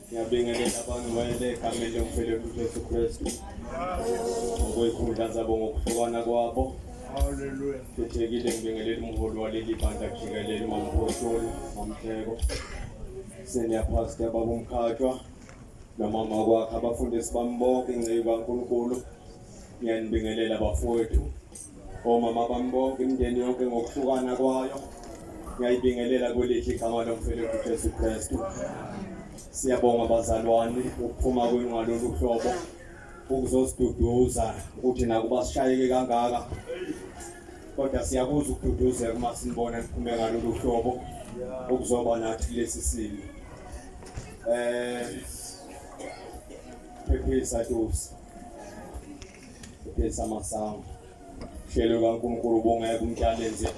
Ngiyabingelela abantu wayele egameni lomfelelo uJesu Kristu ngokwey'khundla zabo ngokuhlukana kwabo khethekile ngibingelela umholi waleli bandla jikelele umamphostoli mamhleko senior pastor babumkhatshwa nomama kwakhe abafundisi bami bonke ingceyi kankulunkulu ngiyanibingelela bafowethu Omama bami bonke imindeni yonke ngokuhlukana kwayo ngiyayibingelela kwelithi igama lomfeleku Jesu Kristu. Siyabonga bazalwane ukuphuma kwenu ngalolu hlobo ukuzosiduduza ukuthi nakuba sishayeke kangaka kodwa siyakuza ukududuzeka uma sinibona niphume ngalolu hlobo ukuzoba nathi kulesi simo. Eh phephisa Tusi. Pesa masango. Hlelo kaNkulunkulu ubungeke umtyalenze.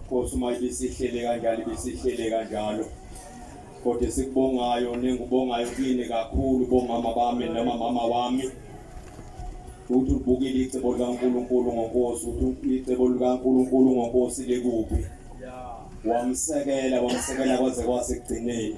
Nkosi uma ibisihlele kanjalo ibisihlele kanjalo. Kodwa esikubongayo nengubongayo kini kakhulu bomama bami noma mama wami. Uthi ubukile icebo likaNkulunkulu ngoNkosi, uthi icebo likaNkulunkulu ngoNkosi lekuphi. Wamsekela, wamsekela kwaze kwasekugcineni.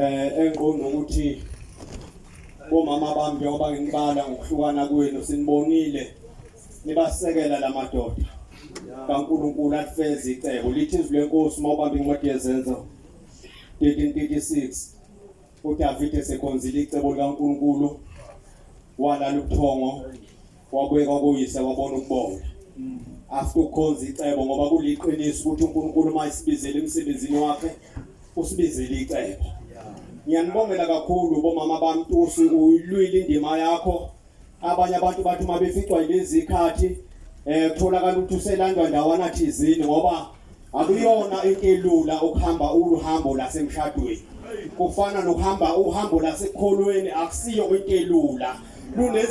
eh engiqonda ukuthi bomama bami njengoba nginibala ngokuhlukana kwenu sinibonile nibasekela la madoda kaNkulunkulu alifeze icebo lithi izwi lenkosi uma ubamba incwadi yezenzo 1336 uDavide sekhonzile icebo likaNkulunkulu walala ubuthongo wabuye kwakuyise wabona ukubonga mm. after ukhonza icebo ngoba kuliqiniso ukuthi uNkulunkulu uma isibizele emsebenzini wakhe usibizele icebo ngiyanibongela kakhulu bomama bami Tusi uyilwile indima yakho abanye abantu bathi uma beficwa yilezi khathi eh kutholakala ukuthi uselandwa ndawana thizini ngoba akuyona into elula ukuhamba uhambo lasemshadweni kufana nokuhamba uhambo lasekholweni akusiyo into elula